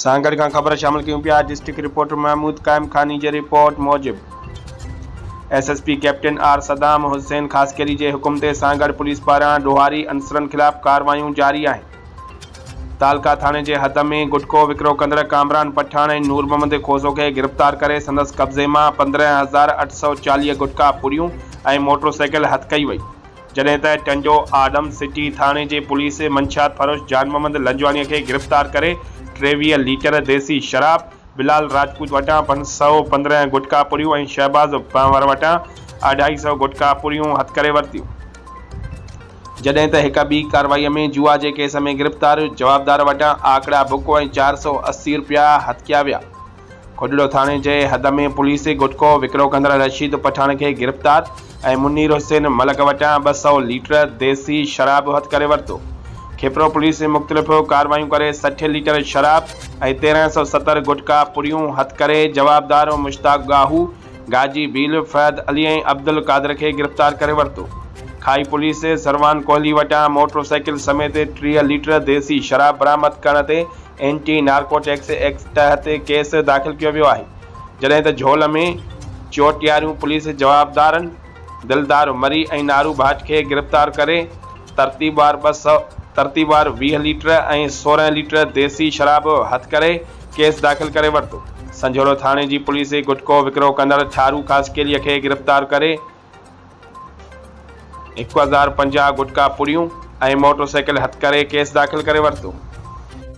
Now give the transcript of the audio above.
سان گڏ کان خبر شامل ڪيون پيا ڊسٽرڪٽ رپورٽر محمود قائم خاني جي رپورٽ موجب S S P captain R Saddam Hussain Khaskheli جي حڪم تي سان گڏ پوليس پاران ڏوهاري عنصرن خلاف ڪاروايون جاري آهن تعلقه ٿاڻي جي حد ۾ گٽڪو وڪرو ڪندڙ ڪامران پٺاڻ ۽ نور محمد کوسو کي گرفتار ڪري سندس قبضي مان پندرهن هزار اٺ سؤ چاليهه گٽڪا پوريون ۽ موٽرسائيڪل هٿ ڪئي وئي جڏهن ته ٽنڊو آدم سٽي ٿاڻي جي پوليس منشيات فروش جان محمد لنجواڻي کي گرفتار ڪري ٽيويهه ليٽر ديسي شراب، بلال راجپوت وٽان پنج سؤ پندرهن گٽڪا پوريون ۽ شهباز پنهور وٽان اڍائي سؤ گٽڪا پوريون هٿ ڪري ورتيون. جڏهن ته هڪ ٻي ڪارروائي ۾ جوا جي ڪيس ۾ گرفتار جوابدار وٽان آکڙا بڪ ۽ چار سؤ اسي رپيا هٿ ڪيا ويا. کوجڙو ٿاڻي جي حد ۾ پوليس گٽڪو وڪرو ڪندڙ رشيد پٺاڻ کي گرفتار ۽ منير حسين ملڪ وٽان ٻه سؤ ليٽر ديسي شراب هٿ ڪري ورتو. کيپرو پوليس مختلف ڪارروايون ڪري سٺ ليٽر شراب ۽ تيرهن سؤ ستر گٽڪا پوريون هٿ ڪري جوابدار مشتاق ڳاهو، گاجي ڀيل فهد علي ۽ عبدالقادر کي گرفتار ڪري ورتو. کائي پوليس سروان ڪوهلي وٽان موٽر سائيڪل سميت ٽيهه ليٽر ديسي شراب برآمد ڪرڻ تي اينٽي نارڪوٽڪس ايڪٽ تحت ڪيس داخل ڪيو ويو آهي جڏهن ته جهول ۾ چوٽياريون پوليس جوابدارن دلدار مري ۽ نارو ڀاٽ کي گرفتار ڪري ترتيبوار ٻه سؤ ترتيبوار ويهه ليٽر ۽ سورهن ليٽر ديسي شراب هٿ ڪري ڪيس داخل ڪري ورتو. سنجهوڙو ٿاڻي جي پوليس گٽڪو وڪرو ڪندڙ ٺارو خاصخيلي کي گرفتار ڪري هڪ هزار پنجاهه گٽڪا پڙيون ۽ موٽر سائيڪل هٿ ڪري ڪيس داخل ڪري ورتو.